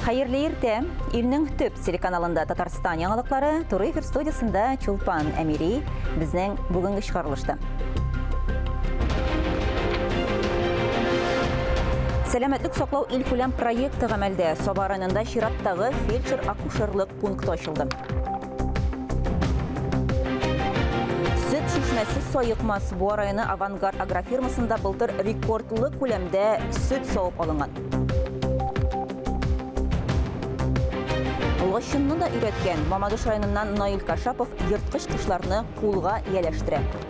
Хәерле иртә! Илнең төп телеканалында Татарстан яңалыклары туры эфир студиясендә Чулпан Әмири безнең бүгенге чыгарылышта. Сәламәтлек саклау илкүләм проекты гамәлдә Саба районында чираттагы фельдшер-акушерлык пункты ачылды. Чишмәсе Саекмас Буа районы Авангард агрофирмасында былтыр рекордлы күләмдә сөт савып алынган. Лачынны да өйрәткән Мамадыш районыннан Наил Кашапов ерткыч кошларны кулга ияләштерә.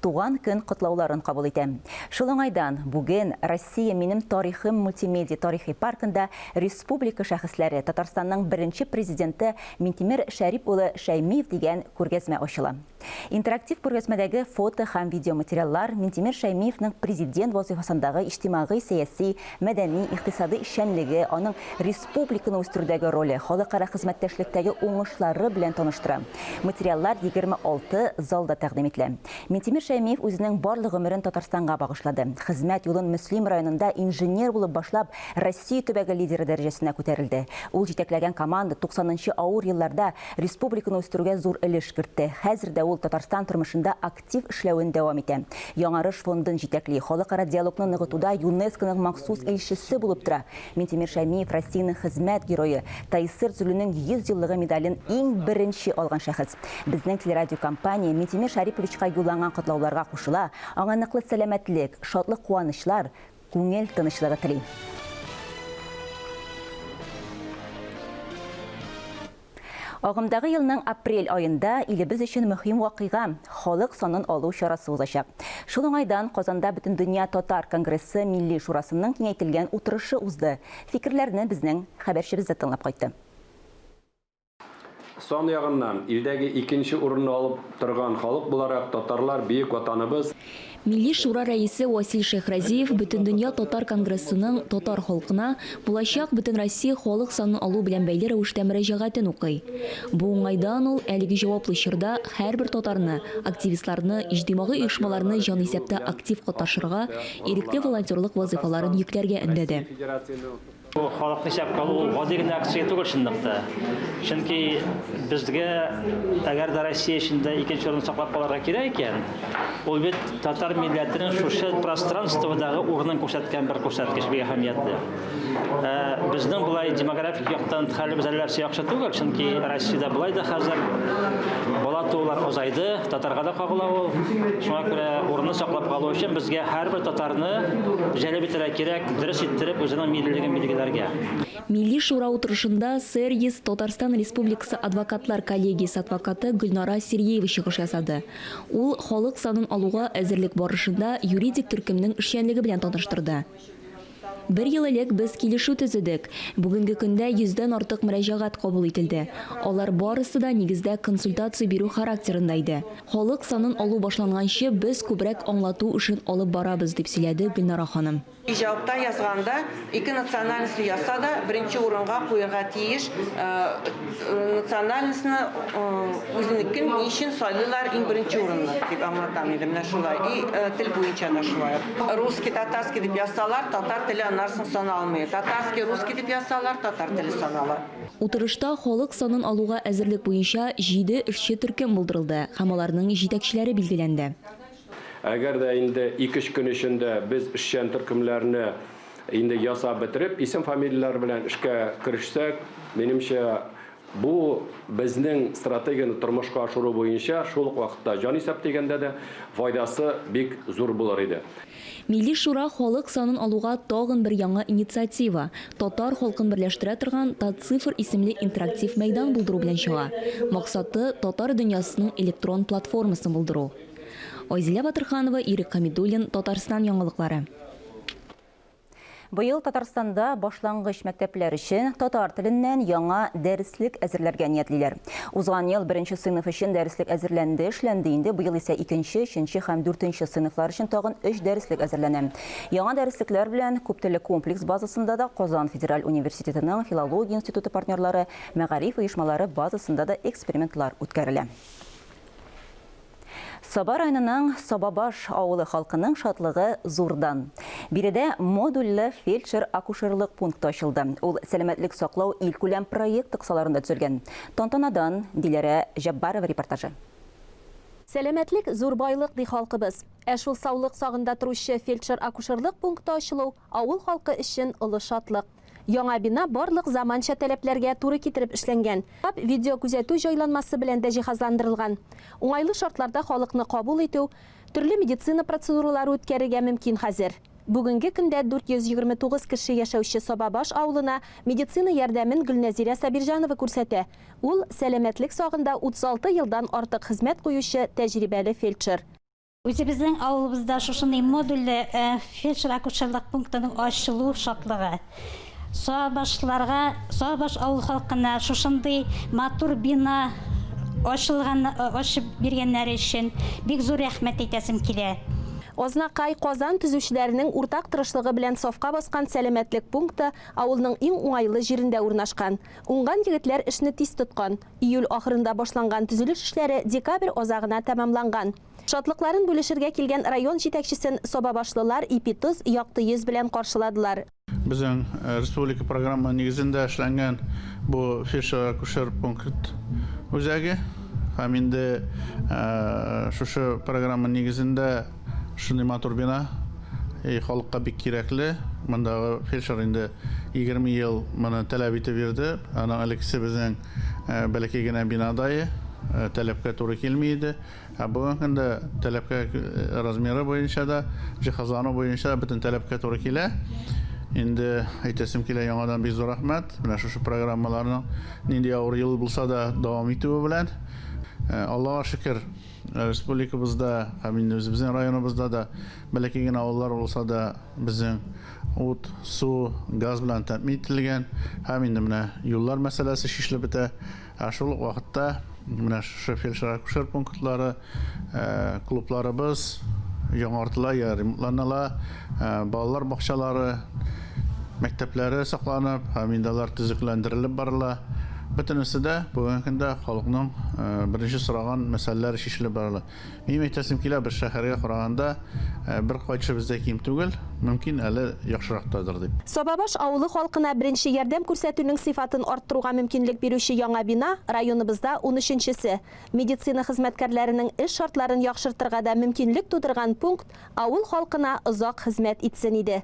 Туган көн котлауларын кабул итәм. Шул уңайдан, бүген Россия минем тарихым мультимедия тарихи паркында республика шәхесләре, Татарстанның беренче Президенты Минтимер Шәрип улы Шәймиев дигән күргәзмә ачыла. Интерактив күргәзмәдәге фото һәм видеоматериаллар Минтимер Шәймиевның Президент вазыйфасындагы иҗтимагый-сәяси, мәдәни, икътисади эшчәнлеге, аның республика публиканы үстерүдәге роле, халыкара хезмәттәшлектәге уңышлары белән таныштыра. Материаллар 26 залда тәкъдим ителә. Минтимер Шәймиев үзенең барлык гомерен Татарстанга багышлады. Хезмәт юлын Мөслим районында инженер булып башлап, Россия төбәге лидеры дәрәҗәсенә күтәрелде. Ул җитәкләгән команда 90 нчы авыр елларда республиканы үстерүгә зур өлеш кертте. Хәзер дә ул Татарстан тормышында актив актив эшләвен дәвам итә. Яңарыш фондын җитәкли, халыкара диалогны ныгытуда ЮНЕСКОның махсус илчесе булып тора. Минтимер Шәймиев Россиянең хезмәт герое, Тайсыр Зөлүнең 100 еллыгы медален иң беренче алган шәхес. Безнең телерадиокомпания Минтимер Шәриповичка юлланган котлауларга кушыла, аңа ныклы сәламәтлек, шатлык-куанычлар, күңел тынычлыгы тели. Агымдагы елның апрель аенда илебез өчен мөһим вакыйга, халык санын алу чарасы узачак. Шул уңайдан Казанда Бөтендөнья татар конгрессы Милли шурасының киңәйтелгән утырышы узды. Фикерләрне безнең хәбәрчебез дә тыңлап кайтты. Сан ягыннан илдәге икенче урынны алып торган халык буларак, татарлар, бөек Ватаныбыз, Милли Шура рәисе Васил Шәйхразиев Бөтендөнья татар конгрессының татар халкына булачак Бөтенроссия халык санын алу белән бәйле рәвештә мөрәҗәгатен укый. Бу уңайдан ул әлеге җаваплы чорда һәрбер татарны, активистларны, иҗтимагый оешмаларны җанисәптә актив катнашырга, ирекле волонтерлык вазыйфаларын йөкләргә өндәде. Бу халыкны исәпкә алу ул гади генә акция түгел чынлыкта. Чөнки безгә, әгәр дә Россия эчендә икенче урынны саклап калырга кирәк икән, ул бит татар милләтенең шушы пространстводагы урынын күрсәткән бер күрсәткеч, бик әһәмиятле. Ә безнең болай демографик яктан хәлебез әлләрчә яхшы түгел, чөнки Россиядә болай да хәзер бала туулар азайды, татарга да кагыла ул. Шуңа күрә урынны саклап калу өчен безгә һәрбер татарны җәлеп итәргә кирәк. Дөрес иттереп үзенең миллилеген билгеләргә. Милли шура утырышында СРЕС Татарстан Республикасы адвокатлар коллегиясе адвокаты Гөлнара Сириева чыгыш ясады. Ул халык санын алуга әзерлек барышында юридик төркемнең эшчәнлеге белән таныштырды. Бер ел элек без килешү төзедек. Бүгенге көндә йөздән артык мөрәҗәгать кабул ителде. Алар барысы да, нигездә, консультация бирү характерында иде. Халык санын алу башланганчы, без күбрәк аңлату эшен алып барабыз, дип сөйләде Гөлнара ханым. Иҗатта, язганда ике национальностьны язса да, беренче урынга куярга тиеш национальностьны, үзенекен ни өчен сайлыйлар иң беренче урынны, дип аңлатам инде, менә шулай. И тел буенча да шулай ук. Русский, татарский дип язсалар, татар теле аннары соң саналмый. Татарский, русский дип язсалар, татар теле санала. Утырышта халык санын алуга әзерлек буенча җиде эшче төркем булдырылды һәм аларның җитәкчеләре билгеләнде. Әгәр дә инде ике-өч көн эчендә без эшчән төркемнәрне инде ясап бетереп, исем-фамилияләр белән эшкә керешсәк, минемчә, бу безнең стратегияне тормышка ашыру буенча шул ук вакытта җанисәп дигәндә дә файдасы бик зур булыр иде. Милли Шура халык санын алуга тагын бер яңа инициатива, татар халкын берләштерә торган Татцифр исемле интерактив мәйдан булдыру белән чыга. Максаты, татар дөньясының электрон платформасын булдыру. Айзилә Батырханова, Ирек Хәмидуллин, Татарстан яңалыклары. Быел Татарстанда башлангыч мәктәпләр өчен татар теленнән яңа дәреслек әзерләргә ниятлиләр. Узган ел беренче сыйныф өчен дәреслек әзерләнде, эшләнде инде, быел исә икенче, өченче һәм дүртенче сыйныфлар өчен тагын өч дәреслек әзерләнә. Яңа дәреслекләр белән күптелле комплекс базасында да Казан федераль университетының филология институты партнерлары, мәгариф оешмалары базасында да экспериментлар үткәрелә. Саба районының Сабабаш авылы халкының шатлыгы зурдан. Биредә модульле фельдшер-акушерлык пункты ачылды. Ул Сәламәтлек саклау илкүләм проекты кысаларында төзелгән. Тантанадан Диләрә Җәббарова репортажы. Сәламәтлек, зур байлык, ди халкыбыз. Ә шул саулык сагында торучы фельдшер-акушерлык пункты ачылу авыл халкы өчен олы шатлык. Яңа бина барлык заманча таләпләргә туры китереп эшләнгән. Штаб видеокүзәтү җайланмасы белән дә җиһазландырылган. Уңайлы шартларда халыкны кабул итү, төрле медицина процедуралары үткәрергә мөмкин хәзер. Бүгенге көндә 429 кеше яшәүче Сабабаш авылына медицина ярдәмен Гөлнәзирә Сабирҗанова күрсәтә. Ул, сәламәтлек сагында 36 елдан артык хезмәт куючы тәҗрибәле фельдшер. Үзебезнең авылыбызда шушындый модульле э, фельдшер-акушерлык пунктының ачылу шатлыгы. Сабашларга, Сабаш авыл халкына шушындый матур бина ачылган, э, ачып биргәннәре өчен бик зур рәхмәт әйтәсем килә. Азнакай, Казан төзүчеләренең уртак тырышлыгы белән сафка баскан сәламәтлек пункты авылның иң уңайлы җирендә урнашкан. Уңган егетләр эшне тиз тоткан. Июль ахырында башланган төзелеш эшләре декабрь азагына тәмамланган. Шатлыкларын бүлешергә килгән район җитәкчесен сабабашлылар ипи-тоз, якты йөз белән каршыладылар. Безнең республика программы нигезендә эшләнгән бу фельдшер-акушер пункт үзәге һәм инде шушы программа нигезендә, Шундый матур бина. И халыкка бик кирәкле. Мондагы фельдшер инде 20 ел моны таләп итеп йөрде. Аның элеккесе безнең э, бәләкәй генә бинадае э, таләпкә туры килми иде. Ә бүгенге көндә таләпкә э, размеры буенча да, җиһазлану буенча да бөтен таләпкә туры килә. Инде әйтәсем килә яңадан бик зур рәхмәт. Менә шушы программаларның нинди авыр ел булса да дәвам итүе белән. Э, Аллага шөкер, Республикабызда һәм инде үзебезнең районыбызда да бәләкәй генә авыллар булса да, безнең ут, су, газ белән тәэмин ителгән һәм инде менә юллар мәсьәләсе чишелеп бетә. Ә шул ук вакытта менә шушы фельдшер-акушер пунктлары, клубларыбыз яңартыла, ремонтланыла. Балалар бакчалары, мәктәпләре сакланып һәм инде алар төзекләндерелеп барыла. Бөтенесе дә бүгенге көндә халыкның беренче сораган мәсьәләләре чишелеп барыла. Минем әйтәсем килә, без шәһәргә караганда бер кайтышыбыз да ким түгел, мөмкин, әле яхшырактадыр дип. Сабабаш авылы халкына беренче ярдәм күрсәтүнең сыйфатын арттыруга мөмкинлек бирүче яңа бина, районыбызда унөченчесе. Медицина хезмәткәрләренең эш шартларын яхшыртырга да мөмкинлек тудырган пункт Авыл халкына озак хезмәт итсен иде.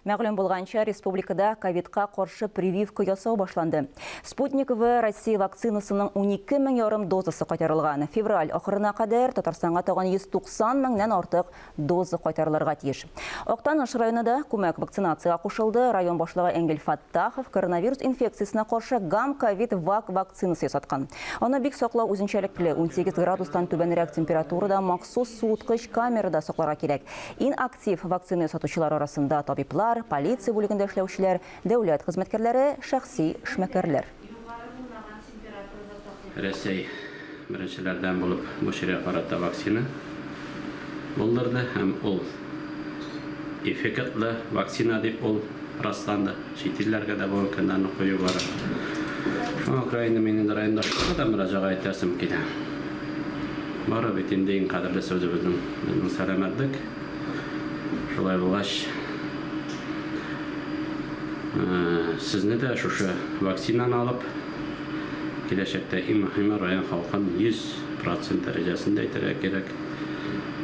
Мәгълүм булганча, республикада ковидка каршы прививка ясау башланды. Спутник В Россия вакцинасының унике мең ярым дозасы кайтарылган. Февраль ахырына кадәр Татарстанга тагын 190 меңнән артык доза кайтарылырга тиеш. Актаныш районы да күмәк вакцинациягә кушылды. Район башлыгы Энгель Тахов коронавирус инфекциясенә каршы Гам-Ковид-Вак вакцинасы ясаткан. Аны бик саклау үзенчәлекле, 18 градустан түбәнрәк температурада махсус суыткыч камерада сакларга кирәк. Ин актив вакцина ясатучылар арасында табиблар, полиция бүлегендә эшләүчеләр, дәүләт хезмәткәрләре, шәхси эшмәкәрләр. Югары булмаган температурада тату. Рәсәй беренчеләрдән булып бу чиргә карата вакцина булдырды һәм ул эффектлы вакцина дип ул расланды. Чит илләргә дә бу өлкәннән уку югары. Шуңа күрә инде мин инде райондашларга да мөрәҗәгать итәсем килә. Бары бит инде иң кадерлесе үзебезнең безнең сәламәтлек. Шулай булгач, сезне дә шушы вакцинаны алып, киләчәктә иң мөһиме район халкын 100% дәрәҗәсендә итәргә кирәк,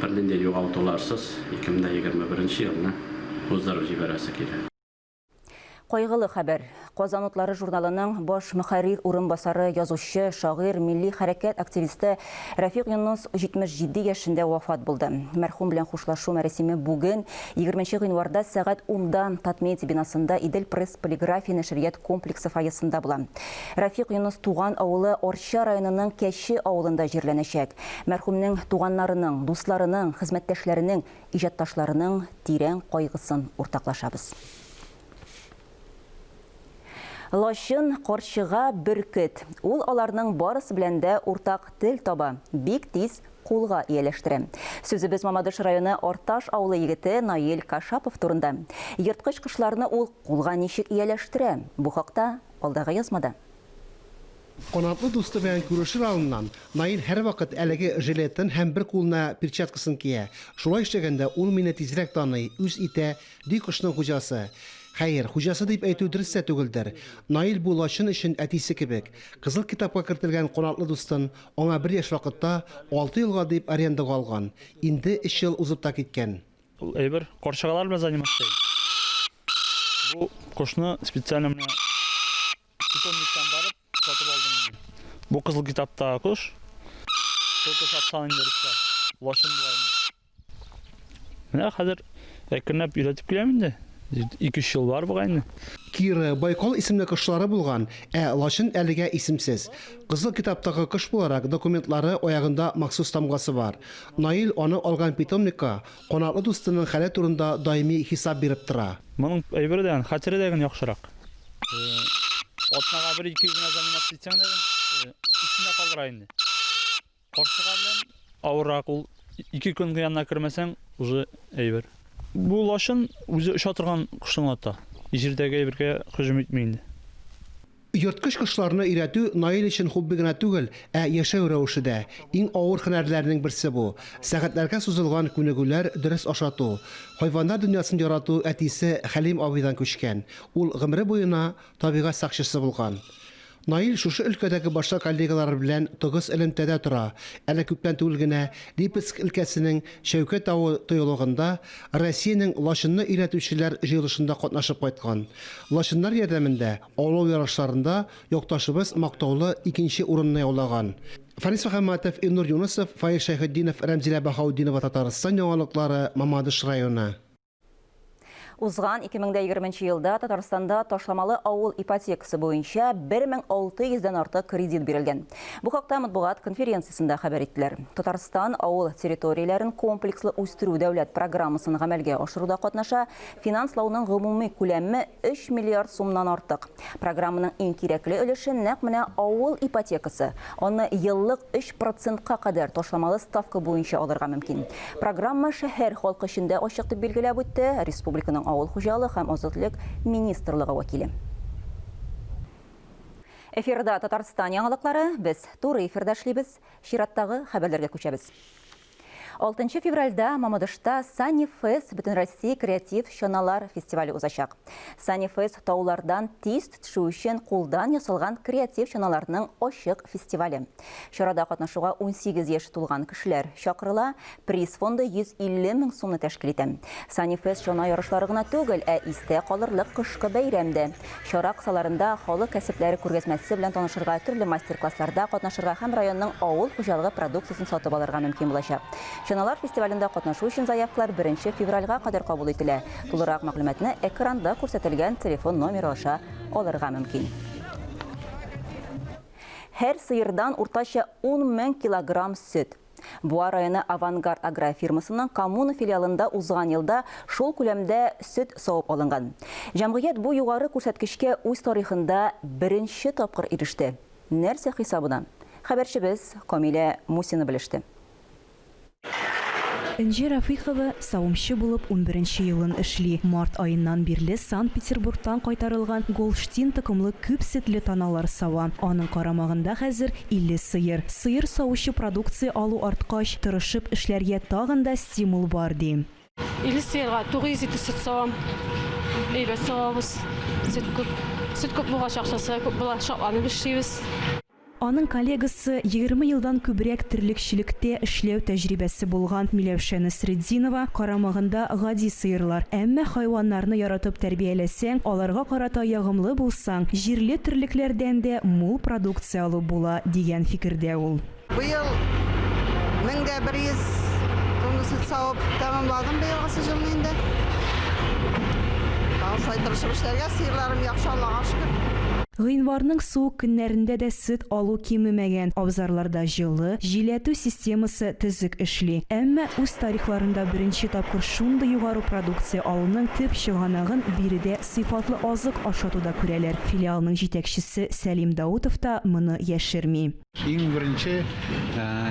бернинди югалтуларсыз 2021 елны уздырып җибәрәсе килә. Кайгылы хәбәр. Казан утлары журналының баш мөхәррир урынбасары, язучы, шагыйрь, милли хәрәкәт активисты Рәфик Юнус 77 яшендә вафат булды. Мәрхүм белән хушлашу мәрасиме бүген 20 гыйнварда сәгать 10-да Татмедиа бинасында Идел пресс полиграфия нәшрият комплексы фойесында була. Рәфик Юнус туган авылы Арча районының Кәче авылында җирләнәчәк. Мәрхүмнең туганнарының, дусларының, хезмәттәшләренең иҗатташларының тирән кайгысын уртаклашабыз. Лачын, карчыга, бөркет. Ул аларның барысы белән дә уртак тел таба, бик тиз кулга ияләштерә. Сүзебез Мамадыш районы Арташ авылы егете Наил Кашапов турында. Ерткыч кошларны ул кулга ничек ияләштерә? Бу хакта алдагы язмада. Канатлы дусты белән күрешер алдыннан, Наил һәрвакыт әлеге жилетын һәм бер кулына перчаткасын кия. Шулай эшләгәндә ул мине тизрәк таный, үз итә, ди кошның хуҗасы. Хәер, хуҗасы дип әйтү дөрес тә түгелдер. Наил бу лачын өчен әтисе кебек. Кызыл китапка кертелгән канатлы дустын аңа бер яшь вакытта, алты елга дип арендага алган. Инде өч ел узып та киткән. Ул әйбер карчыгалар белән заниматься итә. Бу кошны специально менә Питомниктан барып сатып алдым инде. Бу кызыл китаптагы кош. Шул кош аткан инде русча. Лачын була инде. Менә хәзер әкренләп өйрәтеп киләм инде. 2-3 ел бар бугай инде. Киры, Байкал исемле кошлары булган, ә лачын әлегә исемсез. Кызыл китаптагы кош буларак документлары аягында махсус тамгасы бар. Наил аны алган питомникка Канатлы дустының хәле турында даими хисап биреп тора. Моның әйбере дә, хәтере дә гел яхшырак. Атнага бер-ике генә заминат итсәң дә, исендә калдыра инде. Каршыга белән авыррак ул. Ике көн янына кермәсәң, уже әйбер. Бу лачын үзе оча торган кошны ата. Җирдәге әйбергә һөҗүм итми инде. Ерткыч кошларны өйрәтү Наил өчен хобби гына түгел, ә яшәү рәвеше дә. Иң авыр һөнәрләрнең берсе бу. Сәгатьләргә сузылган күнегүләр, дөрес ашату. Хайваннар дөньясын ярату әтисе Хәлим абыйдан күчкән. Ул гомере буена табигать сакчысы булган. Наил шушы өлкәдәге башка коллегалары белән тыгыз элемтәдә тора, әле күптән түгел генә Липецк өлкәсенең Шәүкәт авы тыюлыгында Россиянең лачынны өйрәтүчеләр җыелышында катнашып кайткан. Лачыннар ярдәмендә Олау ярышларында якташыбыз мактаулы икенче урынны яулаган. Фарис Мөхәммәтов, Илнур Юнысов, Фаил Шәйхетдинов, Рәмзилә Баһаутдинова Татарстан яңалыклары, Мамадыш районы. Узган 2020 нче елда Татарстанда ташламалы авыл ипотекасы буенча 1600 дән артык кредит бирелгән. Бу хакта матбугат конференциясендә хәбәр иттеләр. Татарстан авыл территорияләрен комплекслы үстерү дәүләт программасын гамәлгә ашыруда катнаша, Финанслауның гомуми күләме өч миллиард сумнан артык. Программаның иң кирәкле өлеше нәкъ менә авыл ипотекасы. Аны еллык өч процентка кадәр ташламалы ставка буенча алырга мөмкин. Программа шәһәр халкы өчен дә ачык, дип билгеләп үтте республиканың авыл хуҗалыгы һәм азык-төлек министрлыгы вәкиле. Эфирда Татарстан яңалыклары, без туры эфирда эшлибез. Чираттагы хәбәрләргә күчәбез. Алтынчы февральдә Мамадышта Sunny Fest бөтенроссия креатив чаналар фестивале узачак. Sunny Fest таулардан тиз төшү өчен кулдан ясалган креатив чаналарның ачык фестивале. Чарада катнашуга 18 яше тулган кешеләр чакырыла. Приз фонды 150 мең сумны тәшкил итә. Sunny Fest чана ярышлары гына түгел, ә истә калырлык кышкы бәйрәм дә. Чара кысаларында халык кәсепләре күргәзмәсе белән танышырга, төрле мастер-классларда катнашырга һәм районның авыл хуҗалыгы продукциясен сатып алырга мөмкин булачак. Чаналар фестивалендә катнашу өчен заявкалар беренче февральгә кадәр кабул ителә. Тулырак мәгълүматны экранда күрсәтелгән телефон номеры аша алырга мөмкин. Һәр сыердан уртача ун мең килограмм сөт. Буа районы Авангард агрофирмасының Коммуна филиалында узган елда шул күләмдә сөт савып алынган. Җәмгыять бу югары күрсәткечкә үз тарихында беренче тапкыр иреште. Нәрсә хисабына? Хәбәрчебез Камилә Мусина белеште. Энҗе Рафыйхова Савымчы булып унберенче елын эшли. Март аеннан бирле Санкт-Петербургтан кайтарылган Голштин токымлы күп сөтле таналар сава. Аның карамагында хәзер илле сыер. Сыер савучы продукция алу арткач, тырышып эшләргә тагын да стимул бар, ди. Илле сыерга тугыз литр сөт савам. Әйбәт савабыз. Сөт күп. Сөт күп булгач, акчасы да күп була. Шатланып эшлибез. Аның коллегасы, егерме елдан күбрәк терлекчелектә эшләү тәҗрибәсе булган Миләүшә Насретдинова, Карамагында гади сыерлар, әмма хайваннарны яратып тәрбияләсәң, аларга карата ягымлы булсаң, җирле терлекләрдән дә мул продукция алып була, дигән фикердә ул. Быел мең дә бер йөз тонна сөт савып тәмамладым быелгы сезонны инде. Тагын шулай тырышып эшләргә, сыерларым яхшы, Аллага шөкер. Гыйнварның суык көннәрендә дә сөт алу кимемәгән, абзарларда җылы, җиләтү системасы төзек эшли. Әмма үз тарихларында беренче тапкыр шундый югары продукция алуның төп чыганагын биредә сыйфатлы азык ашатуда күрәләр. Филиалның җитәкчесе Сәлим Даутов та моны яшерми. Иң беренче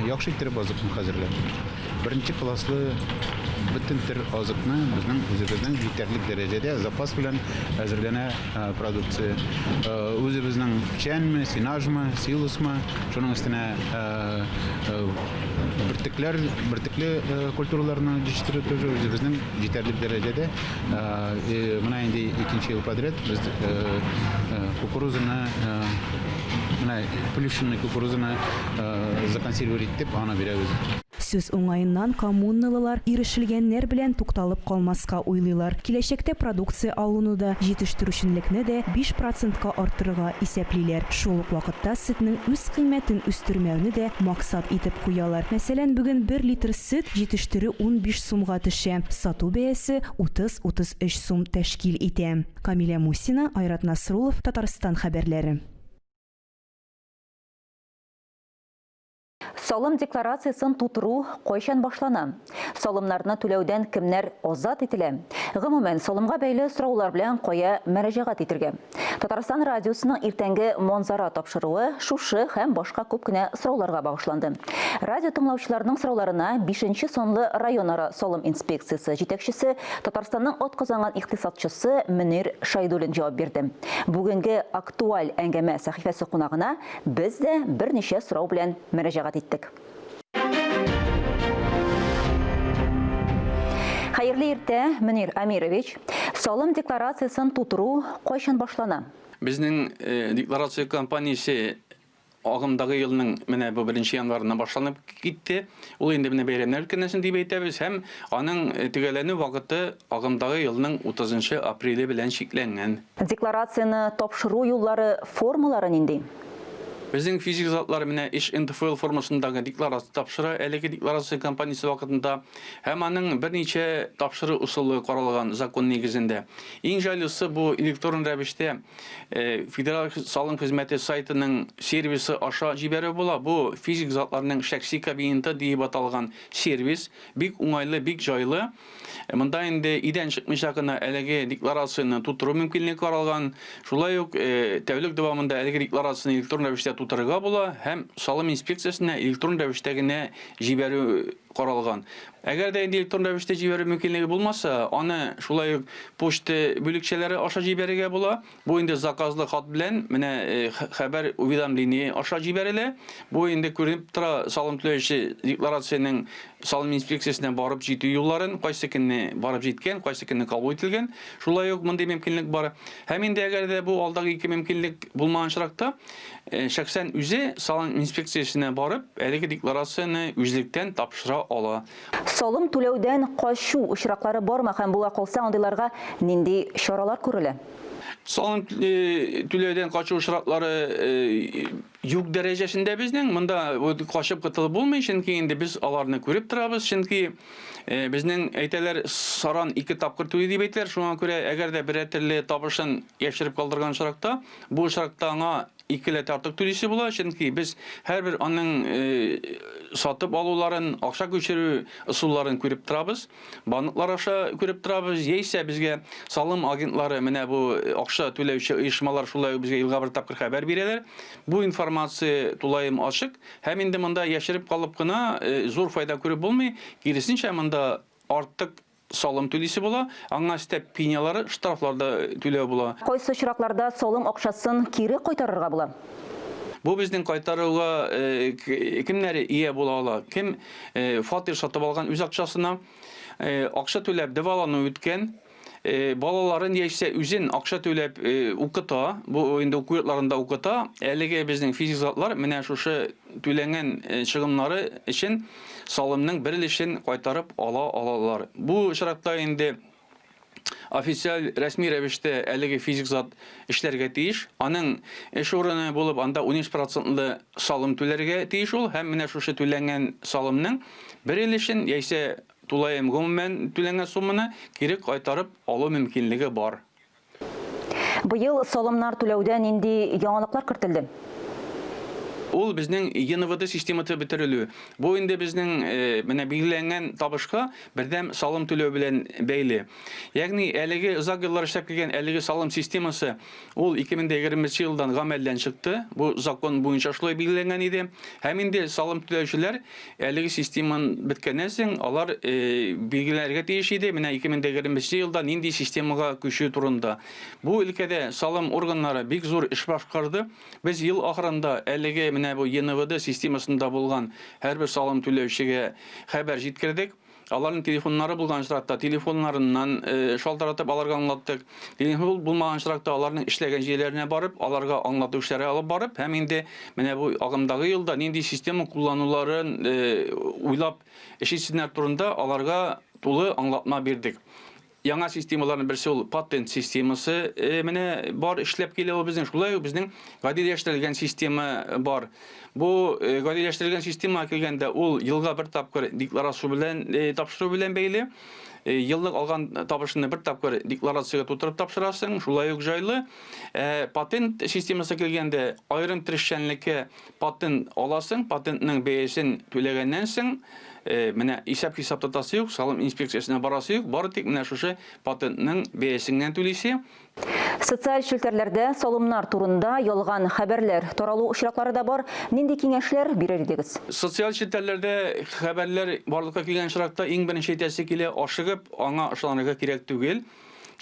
яхшы иттереп азыкны хәзерләп, беренче класслы бөтен төр азыкны безнең үзебезнең җитәрлек дәрәҗәдә запас белән әзерләнә продукция. Үзебезнең печәнме, сенажмы, силосмы, шуның өстенә бөртекләр, бөртекле культураларны җитештерү тоже үзебезнең Җитәрлек дәрәҗәдә менә инде икенче ел подряд без кукурузаны, менә плющенный кукурузаны законсервировать итеп, аны бирәбез. Сүз уңаеннан, коммунналылар ирешелгәннәр белән тукталып калмаска уйлыйлар, киләчәктә продукция алуны да, җитештерүчәнлекне дә биш процентка арттырырга исәплиләр. Шул ук вакытта сөтнең үз кыйммәтен үстермәүне дә максат итеп куялар. Мәсәлән, бүген бер литр сөт җитештерү унбиш сумга төшә, сату бәясе 30-33 сум тәшкил итә. Камилә Мусина, Айрат Насруллов, Татарстан хәбәрләре. Салым декларациясен тутыру кайчан башлана? Салымнарны түләүдән кемнәр азат ителә? Гомумән, салымга бәйле сораулар белән кая мөрәҗәгать итергә? Татарстан радиосының иртәнге Монзара тапшыруы шушы һәм башка күп кенә сорауларга багышланды. Радио тыңлаучыларының сорауларына бишенче санлы районара салым инспекциясе җитәкчесе, Татарстанның атказанган икътисадчысы Мөнир Шайдуллин җавап бирде. Бүгенге Актуаль әңгәмә сәхифәсе кунагына без дә берничә сорау белән мөрәҗәгать иттек. Хәерле иртә, Мөнир Амирович. Салым декларациясен тутыру кайчан башлана? Безнең декларация кампаниясе агымдагы елның менә бу беренче январына башланып китте. Ул инде менә бәйрәмнәр өлкәнәсен дип әйтәбез һәм аның төгәлләнү вакыты агымдагы елның 30 апреле белән чикләнгән. Декларацияне тапшыру юллары, формалары нинди? Безнең физик затлар менә еш НДФЛ формасындагы декларация тапшыра. Әлеге декларация кампаниясе вакытында һәм аның берничә тапшыру ысулы каралган закон нигезендә. Иң җайлысы бу электрон рәвештә Федераль салым хезмәте сайтының сервисы аша җибәрү була. Бу, физик затларның шәхси кабинеты диеп аталган сервис. Бик уңайлы, бик җайлы. Монда инде идән чыкмыйча гына әлеге декларацияне тутыру мөмкинлеге каралган. Шулай ук э, тәүлек дәвамында әлеге декларацияне электрон рәвештә тутырырга була һәм салым инспекциясенә электрон рәвештә генә җибәрү каралган. Әгәр дә инде электрон рәвештә җибәрү мөмкинлеге булмаса, аны шулай ук почта бүлекчәләре аша җибәрергә була. Бу инде заказлы хат белән менә хәбәр уведомление аша җибәрелә. Бу инде күренеп тора салым түләүче декларациянең салым инспекциясенә барып җитү юлларын, кайсы көнне барып җиткән, кайсы көнне кабул ителгән. Шулай ук мондый мөмкинлек бар. Һәм инде әгәр дә бу алдагы ике мөмкинлек булмаган очракта, шәхсән үзе салым инспекциясенә барып, әлеге декларацияне үзлектән тапшыра ала. Салым түләүдән качу очраклары бармы һәм була калса, андыйларга нинди чаралар күрелә? Салым түләүдән качу очраклары юк дәрәҗәсендә безнең. Монда качып котылып булмый, чөнки инде без аларны күреп торабыз, чөнки безнең әйтәләр саран ике тапкыр түли дип әйтәләр. Шуңа күрә әгәр дә берәр төрле табышын яшереп калдырган очракта, бу очракта аңа икеләтә артык түлисе була, чөнки без һәрбер аның э, сатып алуларын, акча күчерү ысулларын күреп торабыз, банклар аша күреп торабыз, яисә безгә салым агентлары, менә бу э, акча түләүче оешмалар шулай ук безгә елга бер тапкыр хәбәр бирәләр. Бу информация тулаем ачык һәм инде монда яшереп калып кына э, зур файда күреп булмый, киресенчә монда артык салым түлисе була, аңа өстәп пенялары, штрафлар да түләү була. Кайсы очракларда салым акчасын кире кайтарырга була? Бу безнең кайтаруга кемнәр ия була ала? Кем фатир сатып алган үз акчасына, акча түләп дәвалану үткән, балаларын яисә үзен акча түләп укыта, бу инде уку йортларында укыта, әлеге безнең физик затлар менә шушы түләнгән чыгымнары өчен, салымның бер өлешен кайтарып ала алалар. Бу очракта инде официаль, рәсми рәвештә әлеге физик зат эшләргә тиеш. Аның эш урыны булып, анда 13 процентлы салым түләргә тиеш ул һәм менә шушы түләнгән салымның бер өлешен яисә тулаем гомумән түләнгән сумманы кире кайтарып алу мөмкинлеге бар. Быел салымнар түләүдә нинди яңалыклар кертелде? Ул безнең ЕНВД систематы бетерелү. Бу инде безнең менә билгеләнгән табышка бердәм салым түләү белән бәйле. Ягъни әлеге озак еллар эшләп килгән әлеге салым системасы ул 2020 елдан гамәлдән чыкты. Бу закон буенча шулай билгеләнгән иде. Һәм инде салым түләүчеләр Әлеге системан беткәннән соң алар билгеләргә тиеш иде, менә 2020 елда нинди системага күчү турында. Бу өлкәдә салым органнары бик зур эш башкарды. Без ел ахырында әлеге менә бу ЕНВД системасында булган һәрбер салым түләүчегә хәбәр җиткердек. Аларның телефоннары булган очракта, телефоннарыннан шалтыратып аларга аңлаттык. Телефон булмаган очракта аларның эшләгән җирләренә барып, аларга аңлату эшләре алып барып, һәм инде менә бу агымдагы елда нинди система куллануларын уйлап эш итсеннәр турында аларга тулы аңлатма бирдек. Яңа системаларның берсе ул патент системасы. Э, менә бар эшләп килә ул безнең. Шулай ук безнең гадиләштерелгән система бар. Бу э, гадиләштерелгән системага килгәндә ул елга бер тапкыр декларация белән э, тапшыру белән бәйле. Э, еллык алган табышны бер тапкыр декларациягә тутырып тапшырасың, шулай ук җайлы. Э, патент системасы килгәндә аерым трещәнлеккә Патент аласың, патентның бәясен түләгәннән соң, менә исәп-хисап тотасы юк, салым инспекциясенә барасы юк, бары тик менә шушы патентның бәясен генә түлисе. Социаль челтәрләрдә салымнар турында ялган хәбәрләр таралу очраклары да бар, нинди киңәшләр бирер идегез? Социаль челтәрләрдә хәбәрләр барлыкка килгән очракта, иң беренче әйтәсе килә, ашыгып аңа ышанырга кирәк түгел.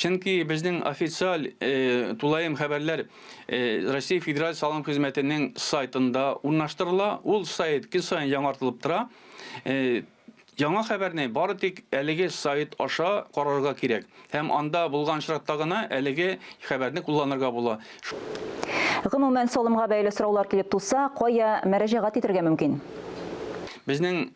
Чөнки безнең официаль э, тулаем хәбәрләр э, Россия Федераль салым хезмәтенең сайтында урнаштырыла. Ул сайт көн саен яңартылып тора. Э, Яңа хәбәрне бары тик әлеге сайт аша карарга кирәк. Һәм анда булган очракта гына әлеге хәбәрне кулланырга була. Гомумән, салымга бәйле сораулар килеп туса, кая мәрәҗәгать итәргә мөмкин? Безнең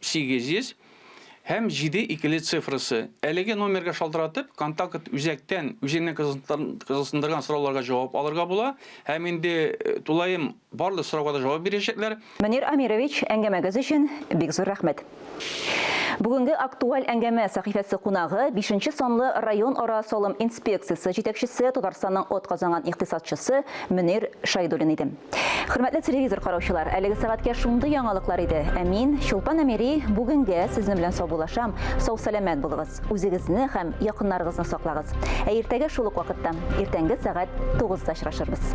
800 һәм 7 икеле цифрасы. Әлеге номерга шалтыратып, контакт үзәктән үзеңне кызыксындырган сорауларга җавап алырга була. Һәм инде тулаем барлык сорауга да җавап бирәчәкләр. Мөнир Амирович, әңгәмәгез өчен бик зур рәхмәт. Бүгенге Актуаль әңгәмә сәхифәсе кунагы, бишенче санлы районара салым инспекциясе җитәкчесе, Татарстанның атказанган икътисадчысы Мөнир Шәйдуллин иде. Хөрмәтле телевизор караучылар, әлеге сәгатькә шундый яңалыклар иде. Ә мин, Чулпан Әмири, бүгенгә сезнең белән саубулашам. Сау-сәламәт булыгыз, үзегезне һәм якыннарыгызны саклагыз. Ә иртәгә шул ук вакытта, иртәнге сәгать 9 да очрашырбыз.